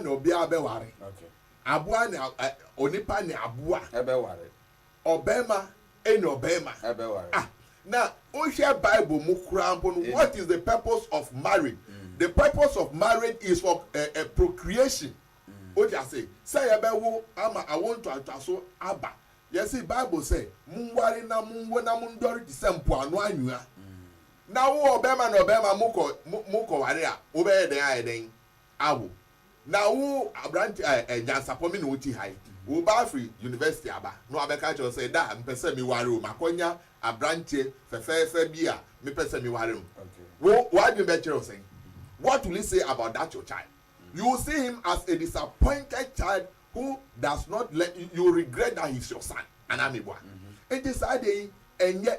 na ɔbea bɛware, aboa ne onipa ne aboa bɛware, ɔbarima ne ɔbarima bɛware. Ah, na wohwɛ Bible mu koraa mpo no, what is the purpose of marriage? Mm. The purpose of marriage is for uh, uh, procreation. Mm. Wote ase? Sɛ yɛbɛwo ama awo ntoantoaso aba. Yɛsi Bible sɛ, monware na monwo na mondɔre te sɛ mpoano anwea. Mm. Na wo ɔbɛrima na ɔbɛrima mokɔ mokɔware a, wobɛyɛ dɛn ayɛ dɛn? Awo na wo aberante a ɛ nyansapɔ me na ɔte ha yi, wo ba firi university aba na wabɛka akyerɛ wo sɛ da a mepɛ sɛ me ware o, makɔnya aberanteɛ fɛfɛɛfɛ bi a mepɛ sɛ me ware no, wo w'adwene bɛkyerɛ wo sɛn? What will you say about that your child? You will see him as a disappointed child who does not learn, you will regret that he is your son, anaa meboa? Nti saa adeɛ yi ɛnyɛ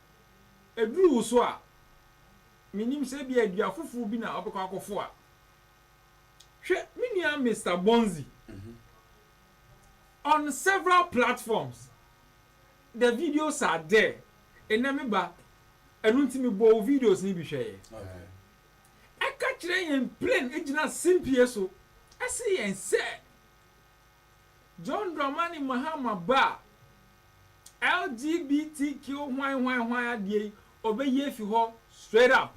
ɛduru wo so a, mennim sɛ ebia dua foforɔ bi na wobɛkɔ akɔfoa. Hwɛ me nua Mister Bonzi. On several platforms, the videos are there. Nnɛ me ba, ɛno nti mebɔɔ wo videos no bi hwɛeɛ. Ɛka kyerɛ yɛn plain, ɛgyina simpie so, ɛse yɛn sɛ, John Dramani Mahama ba a, LGBTQ hwan hwan hwan adeɛ yi, ɔbɛyi afi hɔ straight up.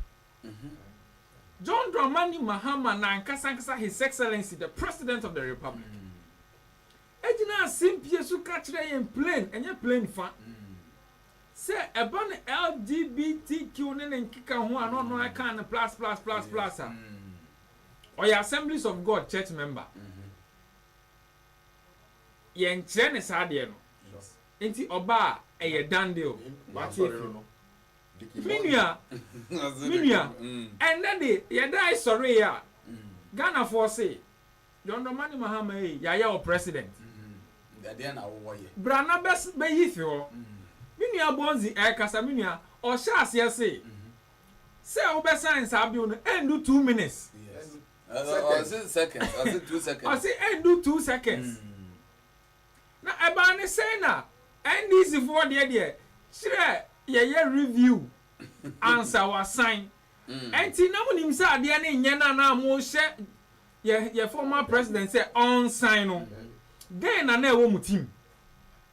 John Dramani Mahama n'ankasa ankasa His Excellency the President of the Republic gyina asempie so ka kyerɛ yɛn plain, ɛnyɛ plain fa, sɛ ɛba no LGBTQ ne ne nkeka ho a na ɔno ara ka no plus plus plus plus a, ɔyɛ Assemblies of God church member. yɛnkyerɛ ne saa adeɛ no nti ɔba a ɛyɛ done deal wate afiri mu me nua me nua ɛnnɛ de yɛdae sɔree a Ghanafoɔ se John Dɔmani Mahama ei yɛayɛ wo president bra na bɛyi fi hɔ me nua Bonzi ɛkasa me nua ɔhyɛ aseɛ se sɛ wobɛsan saa bill no ɛndu two minutes. seconds ɔse seconds ɔse two seconds ɔse ɛndu two seconds na ɛbaa ne sɛn na NDC foɔ deɛ deɛ kyerɛ yɛyɛ review ansa wasan ɛnti na monim sɛ adeɛ no nyɛ na na mohyɛ yɛ yɛ former president sɛ ɔnsan no dɛn na na ɛwɔ mo tim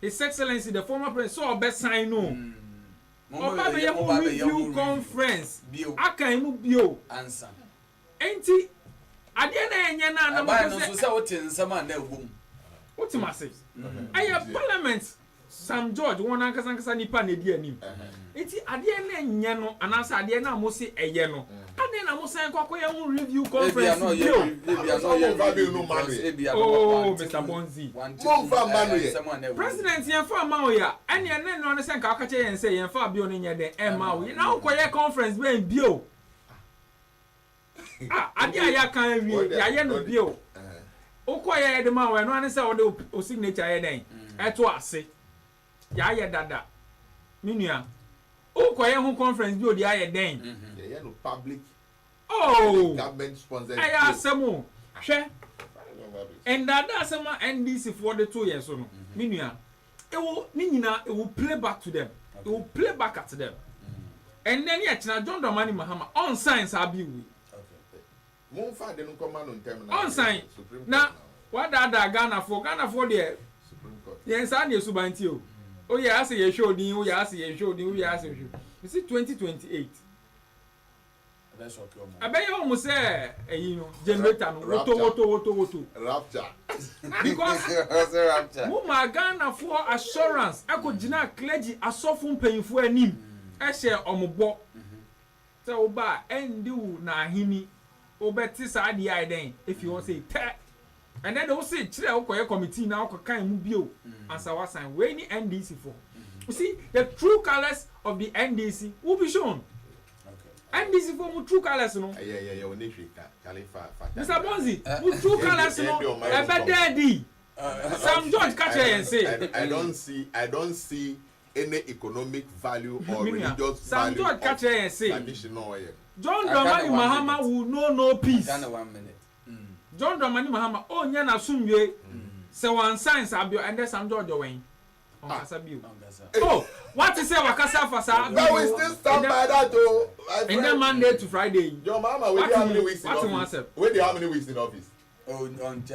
His Excellency the former President sɛ ɔbɛsan no o, ɔba bɛyɛ ho review conference akan mu bio nti adeɛ no a ɛnyɛ no a na mopɛ sɛ wotem ase ɛyɛ parliament Sam George, Wɔn ankasa ankasa nnipa na edi anim. Enti adeɛ no nyɛ no anaasɛ adeɛ no a mose ɛyɛ no, adɛn na mosan kɔ akɔyɛ ho review conference bio? Oh, Mister Bonzi. President, yɛmfaa mma wo ya. Ɛnneɛ na ɛnoa no sɛ nka woka kyerɛ yɛn sɛ yɛmfaa bio no nyɛ dɛn ɛmma wo ya. Na wokɔyɛ conference bɛn bio? Ah, adeɛ a yɛaka awie, yɛayɛ no bio. Wokɔ yɛ yɛde ma wo, ɛno ane sɛ wode o signature yɛ dɛn? Ɛto ase. Yɛayɛ dada. Me nua, wokɔ yɛ ho conference bi o deɛ ayɛ dɛn? Yɛyɛ no public, ɛyɛ government sponsored bio. Oh, ɛyɛ asɛm o. Hwɛ, ndaadaa asɛm a NDC foɔ de too yɛn so no, me nua, Ewo ne nyina e will play back to them e will play back at them ɛnɛ ne ɛkyena John Dramani Mahama ɔnsan saa bill wei ɔnsan na wadaadaa Ghanafoɔ Ghanafoɔ deɛ yɛn saa ne ɛsuban nti o woyɛ ase yɛhwɛ odin woyɛ ase yɛhwɛ odin woyɛ ase yɛhwɛ me si 2028 Ɛbɛyɛ wɔn sɛ ɛyi no generator no woto woto woto woto. Rapture. Because mo maa Ghana foɔ assurance ɛkɔ gyinaa clergy asɔfo mpanyinfoɔ anim ɛhyɛɛ wɔn bɔ sɛ wo ba a ɛndi wo n'aheni wo bɛ te saa adeɛ ayɛ dɛn efi hɔ sei tɛ. Ɛnɛ de wose kyerɛ wokɔyɛ committee na wokɔ kan mu bio ansa wasan wei ne NDC foɔ you see the true colours of the NDC will be shown NDC foɔ mo true colours no Mister Bonzi mo true colours no ɛbɛ da adi Sam George ka kyerɛ yɛn se I don't see I don't see any economic value or religious value of traditional John Dramani Mahama will know no peace John Dramani Mahama onnya n'asomdwoe sɛ wɔansan Sabio ɛndɛ Sam George Ɔwɛn. Ɔnkasa bio. Oh, woate sɛ wakasa afa saa bere yi ho ɛndɛ ɛndɛ Monday to Friday yi. Woate mu, woate ho asɛm.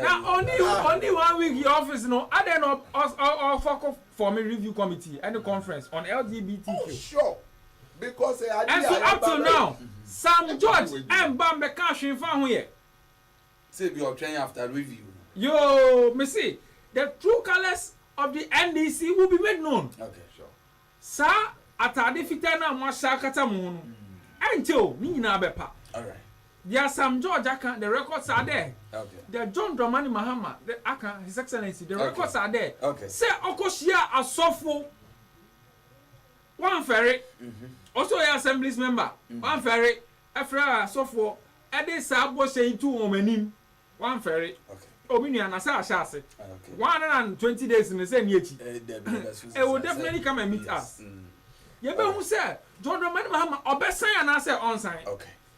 Na ɔnni ɔnni one week yɛ office no, adɛn na ɔfɔko form review committee ɛne conference on LGBTQ. Nso up till now Sam George ɛmba mbɛkaa hwee nfaa ho yɛ. Yoo mese the true colours of the NDC will be made known saa ataade fitaa no a mo ahyɛ akata mo ho no ɛnkyɛ o ne nyinaa bɛpa deɛ Sam George aka the records are there deɛ John Dramani Mahama aka his excellency the records are there sɛ ɔkɔ hyiaa asɔfo Wɔamfɛre, ɔsɛ ɔyɛ Assemblies member, wɔamfɛre, ɛfrɛɛ asɔfoɔ ɛde saa bɔhyɛ yi too wɔn anim, wɔamfɛre. Oh me nua na sɛ ahyɛ ase one hundred and twenty days no sɛ nni akyi, it will definitely come and meet us. Yɛbɛhu sɛ John Dramani Mahama ɔbɛsan anaasɛ ɔnsan.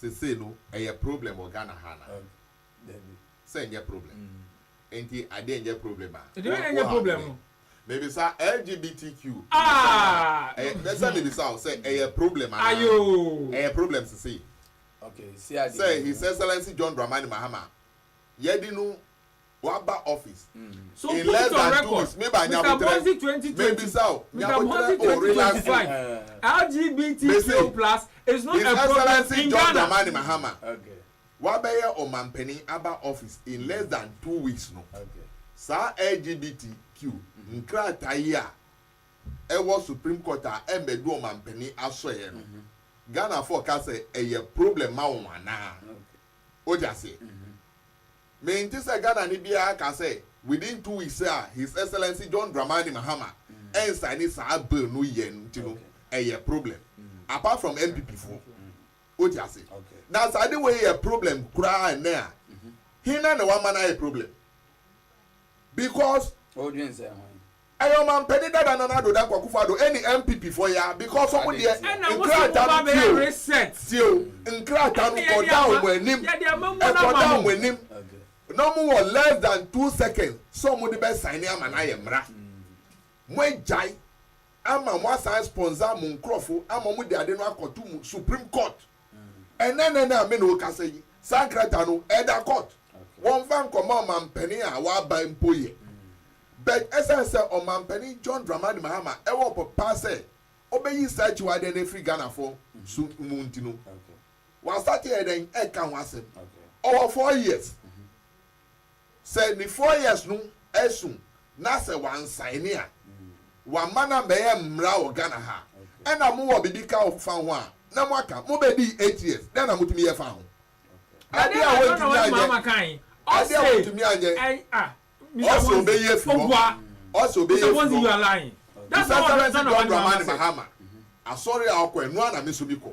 Sesei no ɛyɛ problem wɔ Ghana ha anaa? Dabi. Sɛ ɛnyɛ problem? Enti adeɛ nyɛ problem a? Ɛdeɛ ɛnyɛ problem no. Mebisa LGBTQ asɛm no a, mɛsɛ mebisa wo sɛ ɛyɛ problem anaa? Ayoo. Ɛyɛ problem sesei. Okay, si adeɛ mmienu. Sɛ His Excellency John Dramani Mahama, yɛadi no Waba office in less than two weeks me ba nyabotrɛ me bisa wo nyabotrɛ o relax o me se his excellency John Dramani Mahama wabɛyɛ ɔmanpanin aba office in less than two weeks no saa LGBTQ nkrataa yi a ɛwɔ supreme court a ɛmmɛdu ɔmanpanin asɔeɛ no Ghanafoɔ ka sɛ ɛyɛ problem ma wɔn anaa wote aseɛ. Mente sɛ Ghanani biara ka sɛ within two weeks a His Excellency John Dramani Mahama ɛnsaini saa bill no yɛ no nti no ɛyɛ problem apart from NPP foɔ. Wote ase? Na sɛ ade wei yɛ problem koraa ɛnnɛ a, hena na wama no ayɛ problem? Because. Wodwen sɛn ho yi? Ɛyɛ ɔmampani dada Nana Addo Dankwa Akufo Addo ɛne NPP foɔ ya because ɔmo deɛ nkrataa no tie o tie o nkrataa no kɔda ɔmo anim ɛkɔda ɔmo anim na ɔmo wɔ less than two seconds sɛ ɔmo de bɛ sign ama no ayɛ mmra mo agyae ama mo asan sponsor mo nkorɔfo ama ɔmo de ade no akɔto mo supreme court. Ɛnnɛ nnɛ no a me ne wo rekasa yi, saa nkrataa no, ɛda court. Wɔmfa nkɔma ɔmampanin a waba mpo yɛ. But ɛsiane sɛ Ɔmampanin John Dramani Mahama wɔ ɔpɛ pa sɛ ɔbɛyi saa akyiwadeɛ no afiri Ghanafoɔ so mu nti no, wastate yɛ dɛn? Ɛka ho asɛm. Ɔwɔ four years. Sɛ ne four years no asu na sɛ wansaene a, wamma no ammɛyɛ mmara wɔ Ghana ha, ɛna mowɔ biribi ka fa ho a, na moaka. Mobɛdii eight years, dɛn na motumi yɛ faa ho? Adeɛ a wontumi anyɛ, adeɛ a wontumi anyɛ. Ɔse ɔbɛyi afiri hɔ, ɔse ɔbɛyi afiri hɔ. Mr Samanzi John Dramani Mahama, asɔre a ɔkɔ, ɛno ara na me nso mekɔ.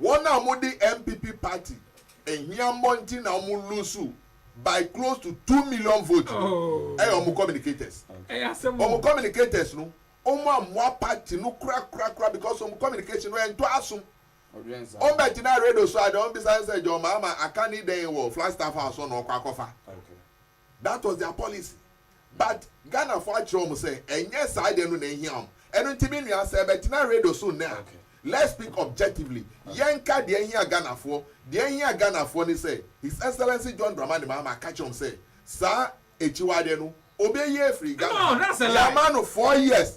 Wɔn a wɔn de NPP party ahiammɔ nti na wɔn lose by close to two million vote no yɛ wɔn communicators. Wɔn communicators no wɔn ammoa party no korakorakora because wɔn communication no ɛntɔ asom. Wɔn bɛ gyina radio so a deɛ wɔn bisa no sɛ John Mahama aka ne dɛn wɔ Flagstaff house hɔ na ɔkɔ akɔfa. That was their policy but Ghana foɔ akyerɛ wɔn sɛ ɛnyɛ saa deɛ no na ɛhia wɔn. Ɛno nti me nua sɛ bɛtena radio so nnɛ a let's speak objectively, yɛnka deɛ ɛhia Ghana foɔ. Deɛ ɛhia Ghana foɔ ne sɛ His Excellency John Dramani Mahama ka kyerɛ wɔn sɛ saa akyiwadeɛ no ɔbɛyi afiri Ghana ha. Yɛama no four years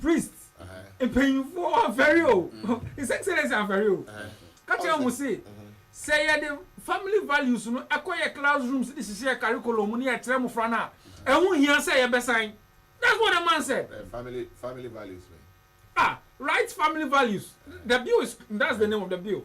Priest, mpanyimfoɔ amfɛre o, His Excellency amfɛre o, ka kyerɛ wɔn se, sɛ yɛde family values no kɔ yɛn classrooms de hyehyɛ yɛn curriculum mu na yɛkyerɛ mmofra no a, ɛho nhia sɛ yɛbɛsan. That's what the man said. Family, family values bɛn? Ah, right family values, the bill is, that's the name of the bill.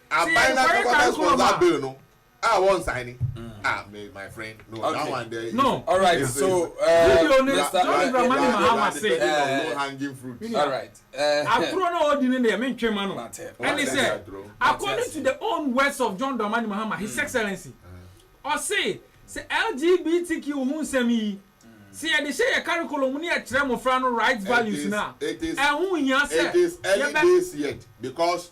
Aban na bɛkɔ abɛ sponsor bill no a wɔn sign ni ah me my friend no okay. that one there is no alright so video ni John Dramani Mahama say low hanging fruit alright aturo na ɔdi ni deɛ mi ntwe ma no ɛni sɛ according to the own words of John Dramani Mahama his excellency ɔsi sɛ LGBTQ ho nsɛm yi sɛ yɛde hyɛ yɛ curriculum ne yɛkyerɛ mmɔfra no right values no a ɛho hia sɛ yɛbɛ because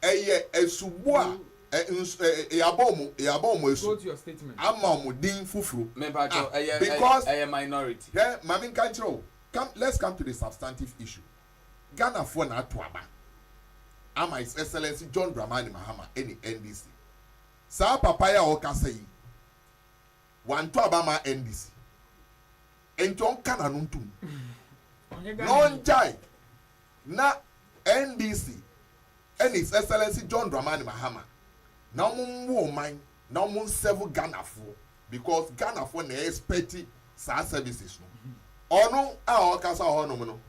Ɛyɛ asubɔ a yɛabɔ wɔn yɛabɔ wɔn asu ama wɔn din foforo a because hwɛ ma me nka nkyerɛ wo come let's come to the substantive issue Ghanafoɔ na ato aba ama His Excellency John Dramani Mahama ne NDC saa papa yi a ɔrekasa yi wanto aba ama NDC nti ɔnka n'ano ntom na ɔngyae Na NDC ɛne His Excellency John Dramani Mahama na ɔmo nwo ɔman na ɔmo nsɛvo Ghanafoɔ because Ghanafoɔ na expect saa services no. Ɔno a ɔɔkasa wɔ hɔ nom no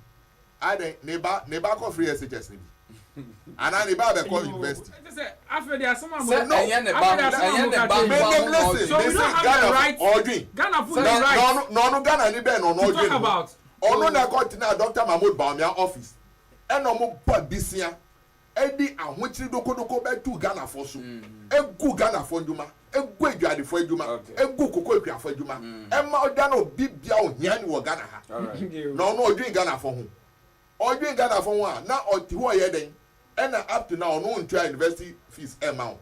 adɛn ne ba ne ba kɔ free SHS no bi? Anaa ne ba abɛkɔ university? Sɛ ɛnyɛ ne ba ho ɛnyɛ ne ba mmoa ho na ɔɔdwen. Mese Ghana ho ɔɔdwen na ɔno Ghanani bɛn na ɔno ɔɔdwen ho? Ɔno na ɛkɔ tenaa Dɔkta Mahmoud Bawumia office ɛna ɔmo bɔ adesua ɛde ahokyere dokodoko bɛto Ghanafoɔ so egu Ghanafoɔ ndwuma egu adwadefoɔ adwuma egu cocoa kuafoɔ adwuma ɛma ɔda no obi bia ohiani wɔ Ghana ha na ɔno ɔdwen Ghanafoɔ ho ɔdwen Ghanafoɔ ho a na ɔte hɔ ɔyɛ dɛn Ɛna up to now ɔno ntua university fees mma wo.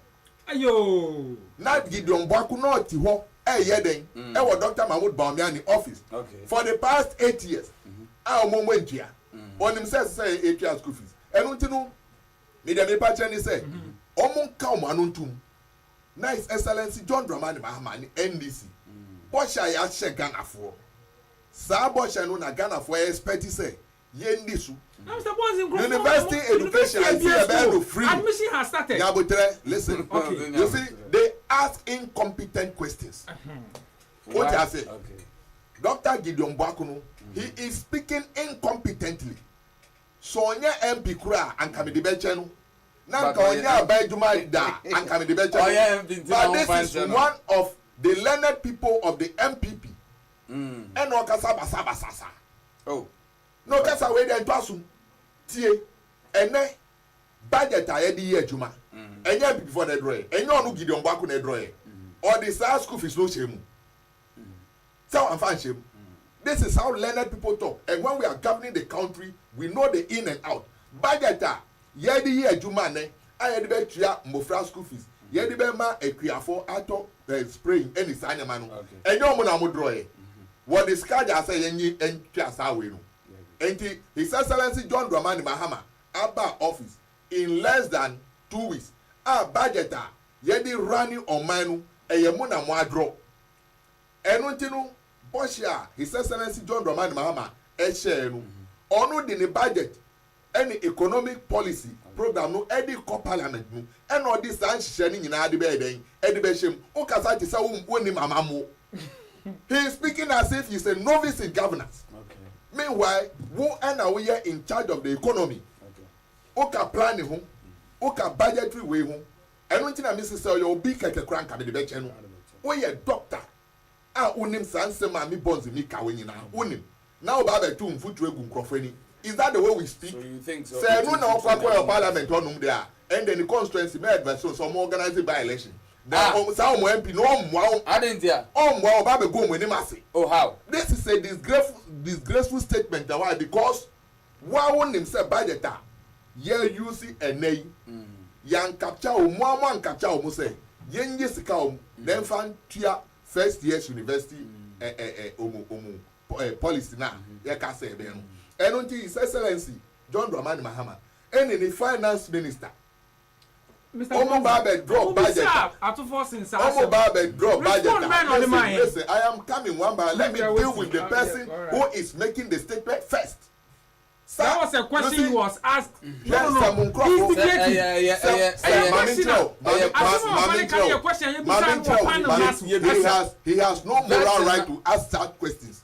Ayoo. Na Gideon Boaku na ɔte hɔ ɛyɛ dɛn ɛwɔ Doctor Mahmood Bawumia ne office for the past eight years a wɔn wɔn ntua. Ɔnim sɛ ɛsɛ sɛ yɛtua school fees. Ɛno nti no me deɛ mepa kyerɛ ne sɛ wɔn nka wɔn ano ntom na His Excellency John Dramani Mahama ne NDC bɔhyɛ a yɛahyɛ Ghanafoɔ. Saa bɔhyɛ no na Ghanafoɔ expect sɛ yɛnni so. University education I see ɛbɛyɛ no free nyɛ aboterɛ listen you see they ask incompetent questions wote ase Doctor Gideon Boako no he is speaking incompetently sɛ ɔnyɛ MP koraa a anka mede bɛkyɛ no na anka ɔnyɛ aban adwuma da a anka mede bɛkyɛ no but this is one of the learned people of the MPP ɛna ɔkasa basabasa saa. Oh na ɔkasa wei deɛ ntɔ asom tie ɛnɛ budget a yɛde yɛ adwuma ɛnyɛ NPP foɔ na ɛdrɔɛ ɛnyɛ ɔno Gideon Boako na ɛdrɔɛ ɔde saa school fees no hyɛ mu sɛ wamfa nhyɛ mu this is how learned people talk and when we are governing the country we know the in and out budget a yɛde yɛ adwuma nnɛ a yɛde bɛtua mmofra school fees, yɛde bɛma akuafo atɔ eh, spray ne saa nneɛma no, ɛnyɛ wɔn na wɔdrɔɔɛ. Wɔde sika gyaa sɛ yɛnye ntwa saa wei no. Enti His Excellency John Dramani Mahama aba office in less than two weeks a budget a yɛde running ɔman no ɛyɛ mo na moadrɔ. Ɛno nti no bɔhyɛ a His Excellency John Dramani Mahama ɛhyɛɛ no, ɔno de ne budget ɛne economic policy program no de kɔ parliament mu ɛna ɔde saa nhyehyɛɛ no nyinaa de bɛyɛ dɛn? de bɛhyɛ mu. Wo kasa te sɛ wo wonnim amammuo. He is speaking as if he is a novice in governance. Meanwhile, wo ɛna wo yɛ in charge of the economy. Wo ka planning ho, wo ka budgetary wei ho. Ɛno nti na me se sɛ ɔyɛ obi kɛkɛ koraa nka me de bɛkyɛ no. Wo yɛ doctor. a wonim saa nsɛm a me bonze me ka wei nyinaa wonim na woba abɛtow mfuturo agu nkurɔfo ani is that the way we speak sɛ ɛno na ɔkɔ akɔ wɔ parliament hɔnom deɛ a ɛnde ne constituency mɛ advice wɔn sɛ wɔn organise by election then wɔn saa wɔn MP no ɔmmoa wɔn ɔmmoa ɔba abɛgu wɔn anim ase this is a disgraceful disgraceful statement na why because Wo a wo nim sɛ budget a yɛ use ɛnɛ yi yɛ ankapkya wo mo a mo ankapkya wo mo sɛ yɛ nye sika wo mo na ɛnfa ntua first years university eh eh eh omo omo eh policy no a yɛ ka sɛ ɛbɛyɛ no ɛno nti his excellency John Dramani Mahama ɛne ne finance minister Wɔn ba bɛ drop budget a. Wɔn ba bɛ drop budget a. Listen listen I am coming one by let me deal with the person who is making the statement first. Sir you see hwɛ sɛ mo nkorɔfo sɛ sɛ maame nkyerɛ o maame maame nkyerɛ o maame nkyerɛ o maame he has he has no moral right to ask such questions.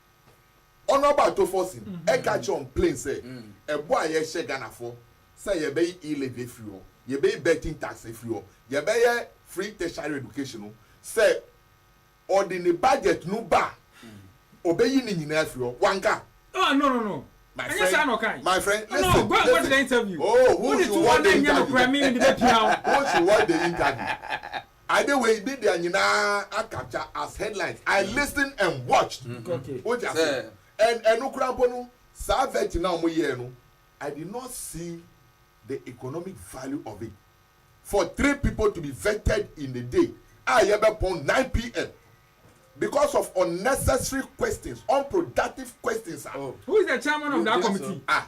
Honourable Atofforson ɛka kyerɛ wɔn plain sɛ ɛbɔ a yɛhyɛ Ghanafoɔ sɛ yɛbɛyi e-levy afiri hɔ, yɛbɛyi betting tax afiri hɔ, yɛbɛyɛ free tertiary education no, sɛ ɔde ne budget no ba a, ɔbɛyi ne nyinaa afiri hɔ. Wanka? Oh no no no, ɛnyɛ saa na ɔkae. My friend, listen, listen. Go and watch the interview. Oh, who should watch the interview? Who should watch the interview? Ade wei ne deɛ nyinaa akapture as headlines, I listened and watched, wote ase? And ɛno koraa mpo no, saa vetting no a wɔyɛɛ no, I did not see the economic value of it for three people to be vetted in a day a yɛbɛpɔn nine PM because of unnecessary questions, unproductive questions a. Who is the chairman of that committee? Ah.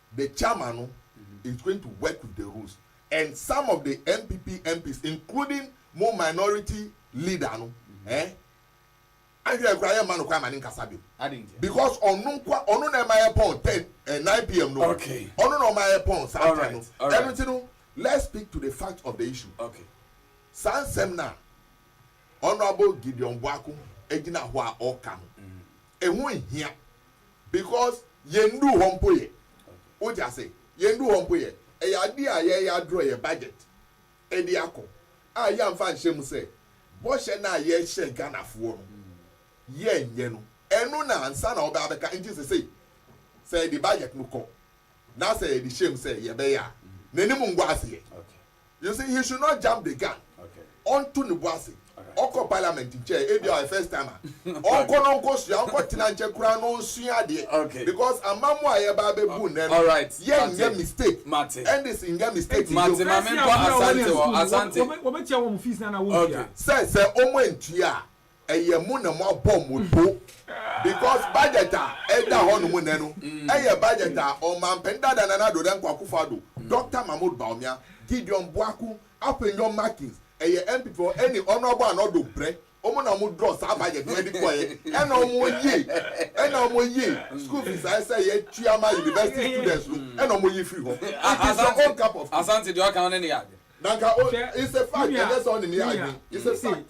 The chairman no is going to work with the rules and some of the NPP MPs including mo minority leader no eh, anhwɛ yɛ koraa yɛmma no kwan ma ne nkasa bio because ɔno nkoa ɔno na ɛma yɛ pɔn ten eh, nine pm no ɔno na ɔma yɛ pɔn saa ten no ɛno nti no let's speak to the fact of the issue saa nsɛm no a Honourable Gideon Boako gyina hɔ a ɔka no ɛho nhia. Because yɛn nnuru hɔ mpo yɛ. Wote ase? Yɛn nnuru hɔ mpo yɛ. Ɛyɛ adeɛ a yɛreyɛ adrɔ yɛn budget de akɔ a yɛamfa anhyɛ mu sɛ bɔhyɛ no a yɛhyɛ Ghanafoɔ no yɛnyɛ no. Ɛno na ansa na wɔbɛba abɛka. Nti sesei sɛ yɛde budget no kɔ na sɛ yɛde hyɛ mu sɛ yɛbɛyɛ a, n'anim ngu aseɛ. Okay. You see he should not jump the gun ɔnto ne bo ase ɔkɔ parliament nkyɛ ebia ɔyɛ first timer ɔnkɔ no ɔnkɔ sua ɔnkɔ tena nkyɛ koraa na ɔnsua adeɛ because amamu a yɛba abɛbu nnɛ no yɛnyɛ mistake ndc nyɛ mistake bio Nti maame nkɔ asante hɔ asante. Wɔbɛtua wɔn fees no anaa wɔntua? Sɛ sɛ wɔn antua a Ɛyɛ mo na moabɔ mo bo because budget a ɛda hɔ nom nnɛ no ɛyɛ budget a Ɔmanpanin dada Nana Addo Dankwa Akufo Addo, Doctor Mahmood Bawumia, Gideon Boakun, Afenyo Markins, ɛyɛ MP foɔ ɛne Honourable Anor Doh Breh, wɔn na wɔn draw saa budget no ɛde kɔɛ ɛna wɔn yi ɛna wɔn yi school fees a ɛsɛ yɛtua ma university students no ɛna wɔn yi firi hɔ. It is your own cup of tea. Asante deɛ ɔka no ne ne yɛ adwene. Nanka o, it's a fact, ɛnyɛ sɛ ɔne ne yɛ adwene, it's a fact.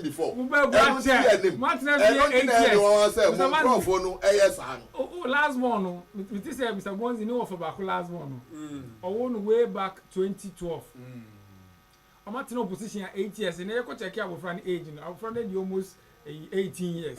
before. Ɛno nti yɛ nim. Ɛno nti na ɛde wɔn sɛ mo nkorɔfoɔ no ɛyɛ saa no. O o last born no me te sɛ Mister Bonzi ne wɔfa baako last born no ɔwoo no way back twenty twelve wɔn atena opposition eight years ɛnɛ yɛ kɔ check abɔfra no age no abɔfra no adi almost ɛyi eighteen years.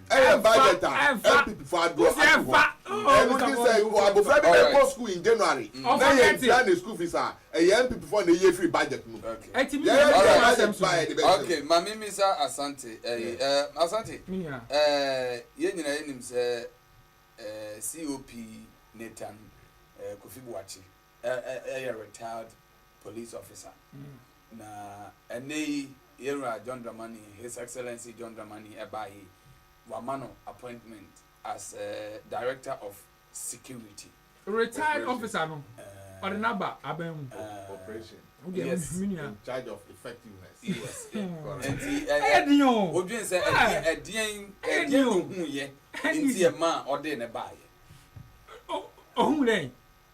ɛyɛ budget a ɛpip fɔ adoɔ ato hɔ ɛno nti sɛ abɔfra bi bɛkɔ school in January na yɛn tua ne school fees a ɛyɛ mpip fɔ na ɛyɛ free budget no mu yɛyɛ yɛ budget ba yɛ de bɛ sɛ okay maame mi sa asante ɛyi ɛɛ asante ɛɛ yɛn nyina yɛ nim sɛ ɛɛ COP ne tan ɛɛ kofi buakye. Ɛyɛ retired police officer na ɛnɛ yi yɛwura John Dramani His Excellency John Dramani ɛbaa yi wama no appointment as a director of security. Retired officer no ɔde n'aba aban mu. Operation. Yes. In charge of effectiveness. Yes. Nti ɛyɛ den o. Odwin sɛ ɛdeɛn ɛdeɛn ɛdeɛn na ohun yɛ nti ɛma ɔde ne baa yɛ. Ohun dɛ.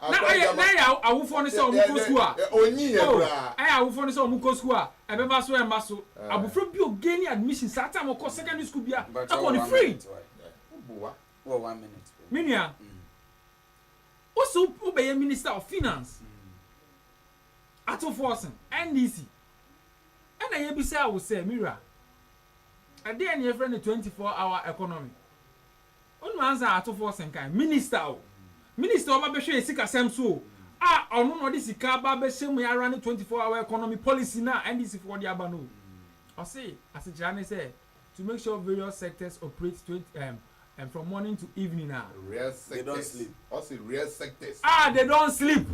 na ayɛ na ayɛ awofoɔ no sɛ wɔn kɔ sukuu a oh ayɛ awofoɔ no sɛ wɔn kɔ sukuu a ɛbɛba so ɛmma so abofra bi o gain admission saa time ɔkɔ secondary school bia ɛkɔ ne free me nua o so o bɛyɛ minister of finance atofoɔ sen NDC ɛna yɛ bisa awo sɛ mira ɛdeɛ ne yɛfrɛ no 24 hour economy Ɔno ansa atofoɔ senkan minister o, minister a ɔba bɛhwɛɛ sikasɛm so o, a ɔno na ɔde sika aba abɛhyɛ mu ara ne 24 hour economy policy no a NDC foɔ de aba no o. Ɔse asekyerɛ ne sɛ to make sure various sectors operate 20 from morning to evening a. Rare sectors, ɔse rare sectors. A they don't sleep.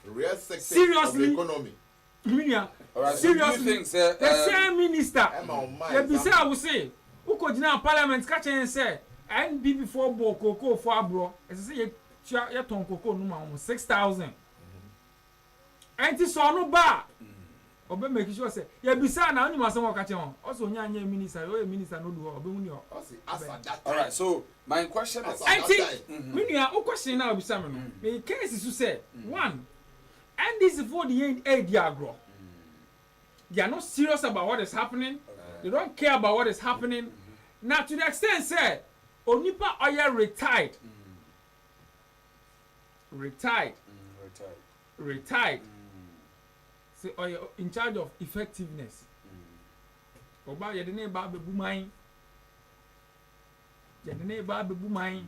Rare sectors of the economy. Me nua, seriously, the same minister, yɛbisaa wo se, wokɔgyinaa parliament ka kyerɛɛ yɛn sɛ NPP foɔ bɔɔ cocoa foɔ aborɔ, ɛsɛ sɛ yɛtua, yɛtɔn cocoa no ma wɔn, six thousand. Ɛnti sɛ ɔno ba a, ɔbɛ make sure sɛ, yɛbisaa no a, wonim asɛm a ɔka kyerɛ wɔn? Ɔse ɔnya nyɛɛ minister, deɛ ɔyɛ minister no ɔdu hɔ a, ɔbɛhu deɛ ɔbɛyɛ. Alright, so my question is. Ɛnti, me nua, wo question no a wobisa me no, mekɛɛ si so sɛ, one, NDC foɔ de yɛn redi agorɔ, they are not serious about what is happening, they don't care about what is happening, na to the extent sɛ onipa a ɔyɛ retired, retired, retired, sɛ ɔyɛ in charge of effectiveness, ɔba yɛde ne ba abɛbu man, yɛde ne ba abɛbu man.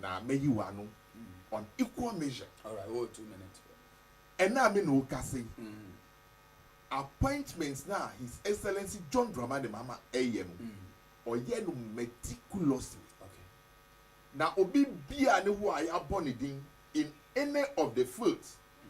na mɛyi wo ano on equal measure. Ɛnnɛ a me ne wo kasa yi, appointment no a His Excellency John Dramani Mahama reyɛ no, ɔyɛ no meticulously. Na obi biara nni hɔ a yɛabɔ ne din in any of the fields.